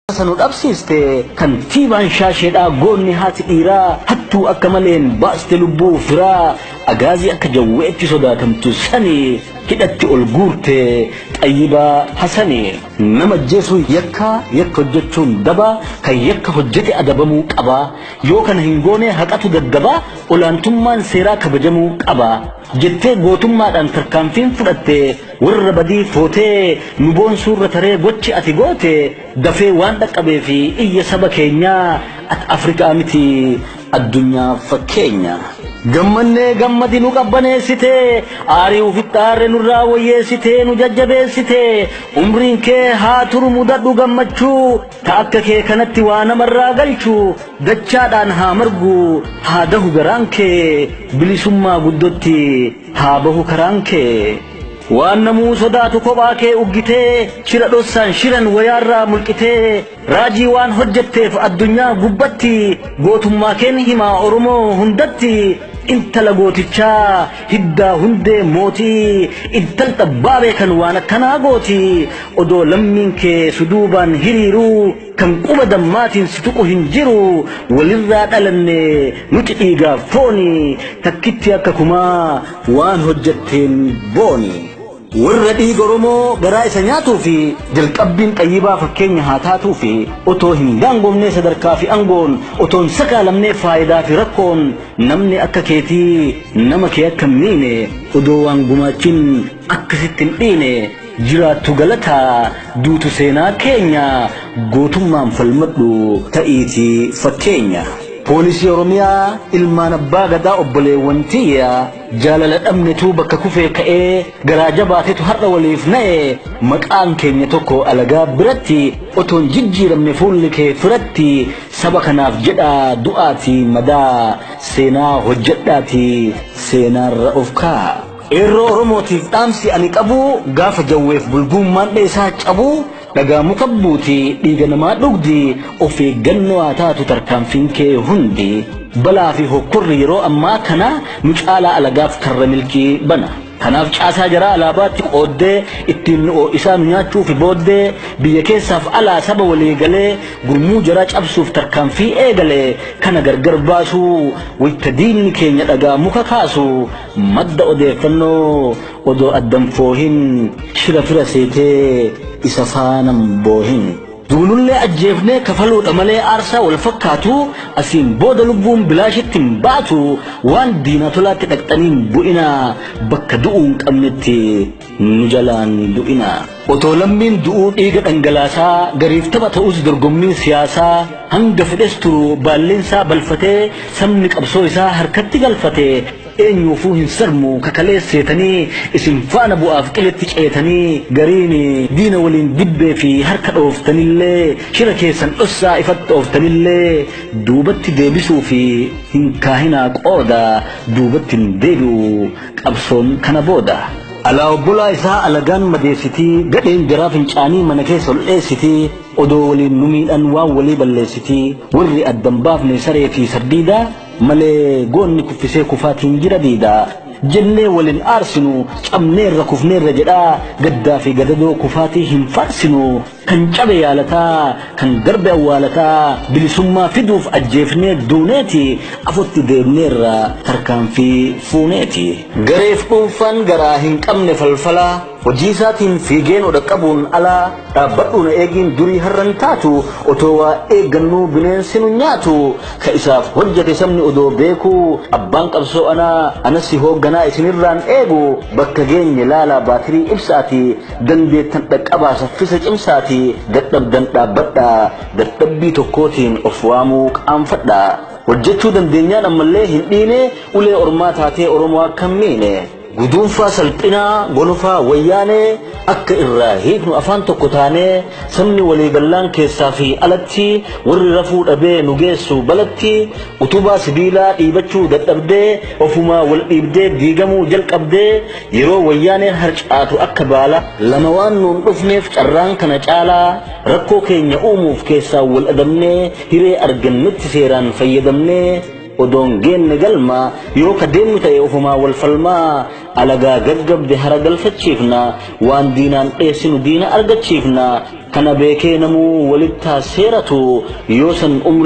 Hawaasa nu dhabsiiste kantiibaan shaasheedhaa goonni haati dhiiraa hattuu akka maleen baaste lubbuu firaa agaazii akka jawweetti sodaatamtu sani hidhatti ol guurte xayyibaa hasani nama ajjeesuun yakkaa yakka hojjechuun dabaa kan yakka hojjete adabamuu qabaa yoo kana hin goonee haqatu gaggabaa olaantummaan seeraa kabajamuu qabaa jettee gootummaadhaan tarkaanfiin fudhatte Warra badii footee nu boonsuurra taree gochi ati goote dafee waan dhaqqabeef iyya saba keenyaa ati Afrikaa miti addunyaaf fakkeenya. Gammannee gammadi nu qabbaneessite aarii ufitti aarre nurraa woyyeessite nu jajjabeessite umriin kee haa turu mudadhu gammachuu ta akka kee kanatti waa namarraa galchu dachaadhaan haa margu haa dahu garaan kee bilisummaa guddotti haa bahu karaan kee waan namuu sodaatu kophaa kee uggitee shira dhossaan shiran wayaarraa mulqitee raajii waan hojjetteef addunyaa gubbatti gootummaa keen himaa oromoo hundatti intala gootichaa hiddaa hundee mootii intal xabbaa beekan waan akkanaa gooti odoo lammiin kee suduubaan hiriiruu Kan quba dammaatiin si tuqu hin jiru Walirraa dhalanne nuti dhiigaaf fooni Takkittii akka kumaa waan hojjetteen booni. Warra dhiiga Oromoo garaa isa nyaatuu fi jalqabbiin Xayyibaa fakkeenya haa taatuu fi Otoo hin daangomnee sadarkaa fi angoon Otoo hin sakaalamnee faayidaa fi rakkoon Namni akka keetii nama kee akka hin miine Odoo waan gumaachin akka sitti hin dhiine Jiraattu galataa duutu seenaa keenya gootummaan falmadhu ta'iitii fakkeenya. Poolisii Oromiyaa ilmaan abbaa gadaa obboleewwan tiyya jaalala dhabnetu bakka kufee ka'ee garaa jabaatetu har'a waliif na'e maqaan keenya tokko alagaa biratti otoo hin jijjiiramne fuulli kee firatti saba kanaaf jedhaa du'aatii madaa seenaa hojjedhaatii seenaarra of kaa'a. Qeerroo Oromootiif dhaamsi ani qabu gaafa jawweef bulguummaan dheesaa cabu dhagaa muka buuti dhiiga namaa dhugdi of eeggannoo haa taatu tarkaanfiin kee hundi balaa fi hokkorri yeroo ammaa kana nu caalaa alagaaf karra milkii bana. Kanaaf caasaa jaraa alaabaatti qooddee ittiin nu oo'isaa nu nyaachuufi booddee biyya keessaaf alaa saba walii galee gurmuu jaraa cabsuuf tarkaanfii eegale kana gargar baasuu wayita diinni keenya dhagaa muka kaasu Madda odeeffannoo odoo addan foohin shira fira seetee isa faanan boohin. Duunullee ajjeefnee kafaluudha malee aarsaa wal fakkaatu asiin booda lubbuun bilaashitti hin baatu waan diinaa tolaatti dhaqxanii hin bu'inaa bakka du'uu hin qabnetti. nu jalaan du'inaa. Otoo lammiin du'uu dhiiga dhangalaasaa gariif tapha ta'us dorgommiin siyaasaa hanga fedhes turu baalliinsaa balfatee sabni qabsoo isaa harkatti galfate eenyuufuu hin sarmu ka kalees seetanii isin faana bu'aaf qiletti ceetanii gariin diina waliin dibbee fi harka dhooftanillee shira keessan dhossaa ifatti ooftanillee duubatti deebisuu fi hin kaahinaa qooda duubatti hin deebi'u Qabsoon kana booda. Alaa obbolaa isaa alagaan madeessitii gadheen jaraa fincaanii mana keessa ol dheessitii odoo waliin nu miidhan waan walii balleessitii warri addan baafne saree fi sardiidaa malee goonni kuffisee kufaatiin jira diidaa jennee waliin aarsinu cabneerra kufneerra jedhaa gaddaa fi gadadoo kufaatii hin faarsinuu Kan cabe yaalataa, kan darbe awwaalataa, bilisummaa fiduuf ajjeefnee duuneeti, afotti deemneerra tarkaanfii fuuneeti. Gareef dhuunfaan garaa hin qabne falfalaa, hojiisaatiin fiigee nu dhaqqabuun alaa, dhaabbadhuu na eegiin durii har'a hin taatu, otoo waa eeggannuu bineensi nu nyaatu, ka isaaf hojjate sabni odoo beekuu, abbaan qabsoo anaa, anas si hoogganaa isinirraan eegu, bakka geenye laalaa baatirii ibsa'atii, Dandeettan dhaqqabaa saffisa cimsaatii dadhabdan dhaabbadhaa dadhabbii tokkootiin of waamuu qaanfadhaa hojjechuu dandeenyaan ammallee hin dhiine ulee ormaa taatee oromoo akka hin miine guduunfaa salphinaa gonofaa wayyaanee akka irraa hiiknu afaan tokko taanee sabni waliigallaan keessaa fi alatti warri rafuu dhabee nu geessu balatti utubaa sibiilaa dhiibachuu dadhabdee ofumaa wal dhiibdee diigamuu jalqabdee Yeroo wayyaaneen harcaatu akka baala lama waan nuun dhufneef carraan kana caalaa rakkoo keenya uumuuf keessaan wal adabnee hiree argannetti seeraan fayyadamnee odoon geenne galma yoo ka deemnu ta'e ofumaa wal falmaa alagaa gaggabde hara galfachiifna waan diinaan dheessinu diina argachiifna kana beekee namuu walittaa seeratu yoo san umrii